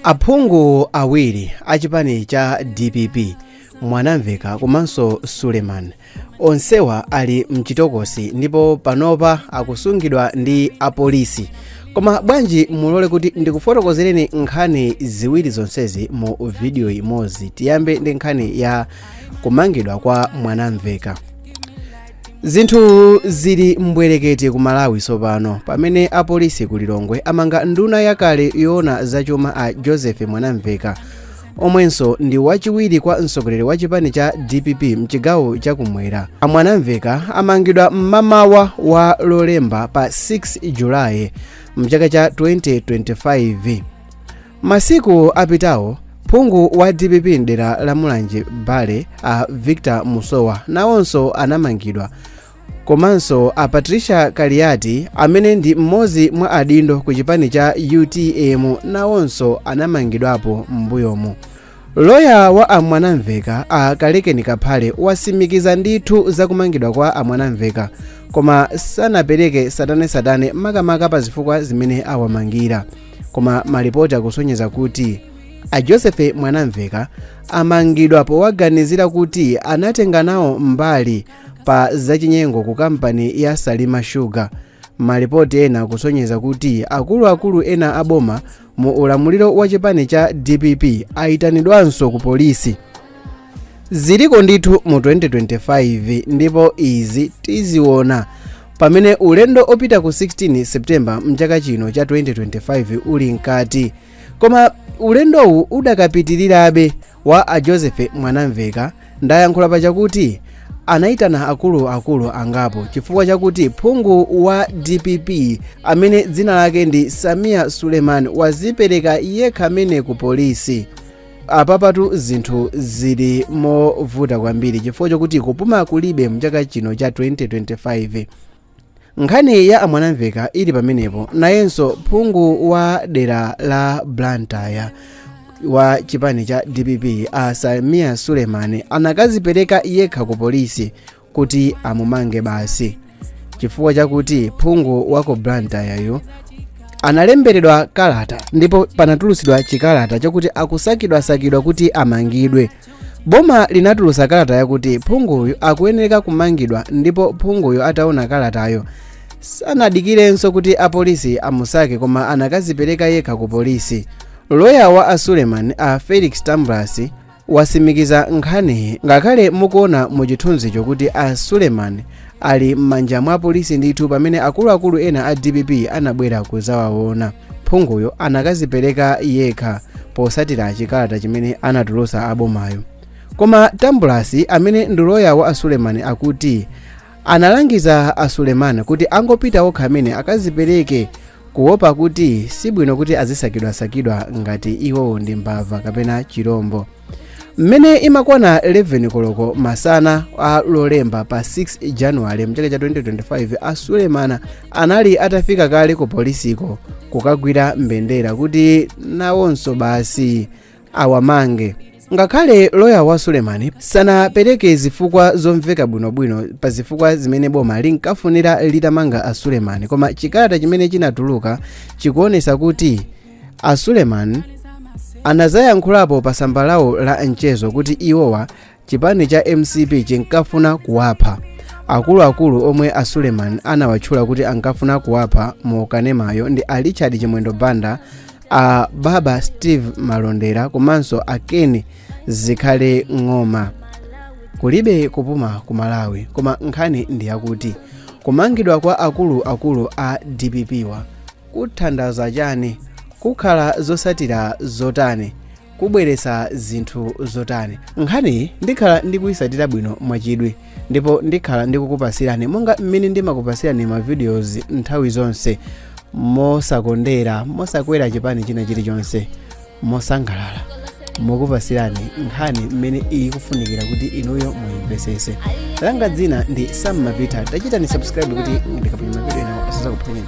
aphungu awiri a chipani cha dpp mwanamveka komanso suleman onsewa ali mchitokosi ndipo panopa akusungidwa ndi apolisi koma bwanji mulole kuti ndikufotokozereni nkhani ziwiri zonsezi mu vidiyo imodzi tiyambe ndi nkhani ya kumangidwa kwa mwanamveka zinthu zili mbwerekete ku malawi tsopano pamene apolisi ku lilongwe amanga nduna yakale yoona zachuma a joseph mwanamveka omwenso ndi wachiwiri kwa mtsogoleri wa chipani cha dpp mchigawo chakumwera a mwanamveka amangidwa mmamawa wa lolemba pa 6 julayi mchaka cha 2025 masiku apitawo phungu wa dpp mdera la mulanje bale a victor musowa nawonso anamangidwa komanso a patricia kaliati amene ndi mmodzi mwa adindo ku chipani cha utm nawonso anamangidwapo m'mbuyomu Loya wa a Mwanamveka a Kalekeni Kaphale wasimikiza ndithu za kumangidwa kwa a Mwanamveka koma sanapereke satane-satane makamaka pa zifukwa zimene awamangira koma malipoti akusonyeza kuti a Joseph Mwanamveka amangidwa powaganizira kuti anatenga nawo mbali pa zachinyengo ku kampani ya Salima Sugar malipoti ena akusonyeza kuti akuluakulu ena aboma mu ulamuliro wa chipani cha dpp ayitanidwanso ku polisi ziliko ndithu mu 2025 ndipo izi tiziona pamene ulendo opita ku 16 septemba mchaka chino cha 2025 uli mkati koma ulendowu udakapitirirabe wa a joseph mwanamveka ndayankhula pachakuti anayitana akuluakulu angapo chifukwa chakuti phungu wa dpp amene dzina lake ndi sameer suleman wazipereka yekha mmene ku polisi apapatu zinthu zili movuta kwambiri chifukwa chakuti kupuma kulibe mchaka chino cha 2025 nkhani ya a mwanamveka ili pamenepo nayenso phungu wa dera la blantyre wa chipani cha dpp a sameer suleman anakazipereka yekha ku polisi kuti amumange basi chifukwa chakuti phungu wa ku blantyreyu analemberedwa kalata ndipo panatulutsidwa chikalata chakuti akusakidwasakidwa kuti amangidwe boma linatulutsa kalata yakuti phunguyu akuyenereka kumangidwa ndipo phunguyu ataona kalatayo sanadikirenso kuti apolisi amusake koma anakazipereka yekha ku polisi loya wa a suleman a felix tambulasi wasimikiza nkhaniyi ngakhale mukuona mu chithunzicho kuti a suleman ali m'manja mwa apolisi ndithu pamene akuluakulu ena a dpp anabwera kuzawaona phunguyo anakazipereka yekha posatira chikalata chimene anatulusa abomayo koma tambulasi amene ndi loya wa a sulemani akuti analangiza a sulemani kuti angopita okha amene akazipereke kuwopa kuti sibwino kuti azisakidwasakidwa ngati iwowo ndi mbava kapena chirombo mmene imakwana 11 koloko masana a lolemba pa 6 januwale mchaka cha 2025 a suleman anali atafika kale ku polisiko kukagwira mbendera kuti nawonso basi awamange ngakhale loya wa sulemani sanapereke zifukwa zomveka bwinobwino pa zifukwa zimene boma linkafunira litamanga a sulemani koma chikalata chimene chinatuluka chikuonesa kuti a sulemani anazayankhulapo pa tsamba lawo la mchezo kuti iwowa chipani cha mcp chinkafuna kuwapha akuluakulu omwe a suleman anawatchula kuti ankafuna kuwapha mu kanemayo ndi a richard chimwendo banda a baba steve malondera komanso a ken zikhale ng'oma kulibe kupuma ku malawi koma nkhani ndi yakuti kumangidwa kwa akuluakulu a dpp-wa kuthandauza chani kukhala zosatira zotani kubweretsa zinthu zotani nkhaniyi ndikhala ndikuyisatira bwino mwachidwi ndipo ndikhala ndikukupasirani monga mmene ndimakupasirani ma videos nthawi zonse mosakondera mosakwera chipani china chilichonse mosangalala mokupasirani nkhani mmene ikufunikira kuti inuyo muyimvesese langa dzina ndi sam mapita tachitani subscribe kuti ndikaponya mavideo enawo asazakuphonyeni